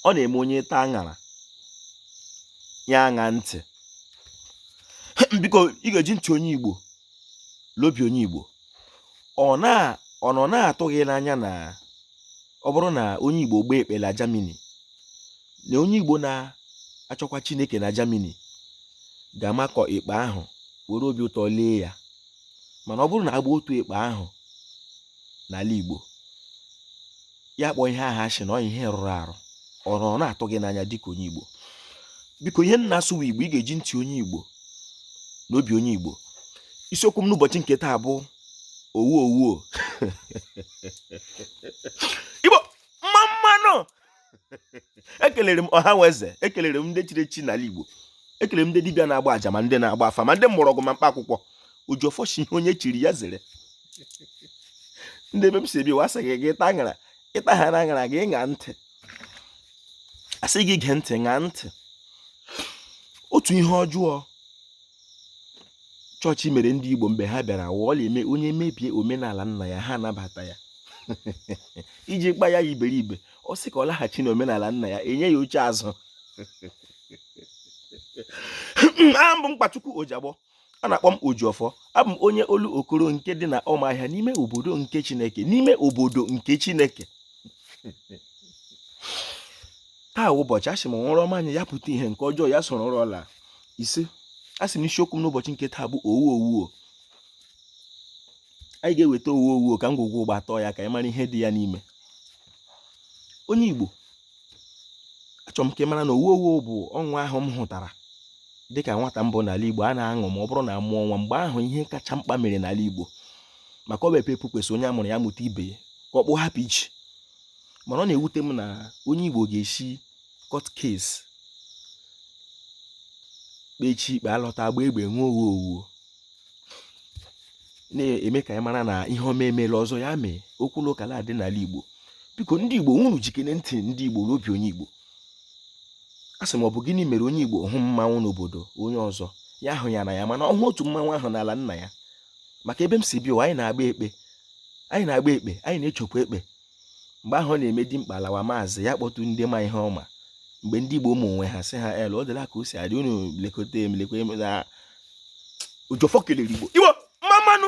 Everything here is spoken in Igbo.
ọ na-eme onye taa aṅara ya aṅaa ntị biko ị ga-eji ntị onye igbo la obi onye igbo ọ na ọ nọ na-atụ gị n'anya na ọ bụrụ na onye igbo gbaa ekpe na Germany na onye igbo na-achọkwa chineke na Germany ga-amakụ ekpe ahụ were obi ụtọ lee ya mana ọ bụrụ na a gbaa otu ekpe ahụ n'ala Igbo ya kpọọ ihe ahụ asị na ọ ihe rụrụ arụ ọ nọ na-atụ gị n'anya dịka onye Igbo biko ihe m na-asụ wụ Igbo ị ga-eji ntị onye Igbo na obi onye Igbo isiokwu m n'ụbọchị nke taa bụ owu owuo Igbo mma mma nụ ekelere m ọha nwe eze ekelere m ndị chiri echi n'ala Igbo ekelere m ndị dibịa na-agba aja ma ndị na-agba afa ma ndị mgbọrọgwụ ma mkpa akwụkwọ ojiọfọ shị ihe onye chiri ya zere ndị ebe m si bịa sị gị gị ị taa aṅara ị taha aṅara gị ṅaa ntị a sị gị gee ntị ṅaa ntị otu ihe ọjọọ chọọchị mere ndị Igbo mgbe ha bịara wụ ọ la-eme onye mebie omenala nna ya ha anabata ya iji kpa ya iberibe ọ sị ka ọ laghachi na omenala nna ya enye ya oche azụ aha m bụ mkpachukwu ojiagbọ a na-akpọ m ojiọfọ abụ m onye Olokoro nke dị na ọmahịa n'ime obodo nke chineke n'ime obodo nke chineke taa ụbọchị a sị m ọ wụrụ ọma anya ya pụta ihe nke ọjọọ ya soro ọrụ ọla ise a sị m isiokwu m n'ụbọchị nke taa bụ owu owuo anyị ga-eweta owu owuo ka ngwugwu ụgba atọọ ya ka anyị mara ihe dị ya n'ime onye Igbo achọrọ m ka ị mara na owu owuo bụ ọṅụ ahụ m hụtara dịka nwata m bụ n'ala Igbo a na-aṅụ ma ọ bụrụ na a mụọ nwa mgbe ahụ ihe kacha mkpa mere n'ala Igbo maka ọ bụ ekpere kwesịrị onye a mụrụ ya mụta ibe ya ka okpu hapụ ichi mana ọ na-ewute m na onye Igbo ga-esi court case kpechaa ikpe alọta agba egbe nwa owu owuo na-eme ka anyị mara na ihe ọma emela ọzọ ya mee okwu na ụka na-adị n'ala Igbo biko ndị Igbo unu jikere ntị ndị Igbo na obi onye Igbo a sị m ọ bụ gịnị mere onye Igbo hụ mmanwụ n'obodo onye ọzọ ya hụ ya n'anya mana ọ hụ otu mmanwụ ahụ n'ala nna ya maka ebe m si bịa anyị na-agba ekpe anyị na-agba ekpe anyị na-echekwa ekpe mgbe ahụ ọ na-eme dimkpa alawa maazị ya kpọtụ ndị ma ihe ọma mgbe ndị Igbo nwe onwe ha sị ha el ọ dịla ka o si adị unu lekọta m lekwa m na ojiọfọ kelere Igbo Igbo mma mma nụ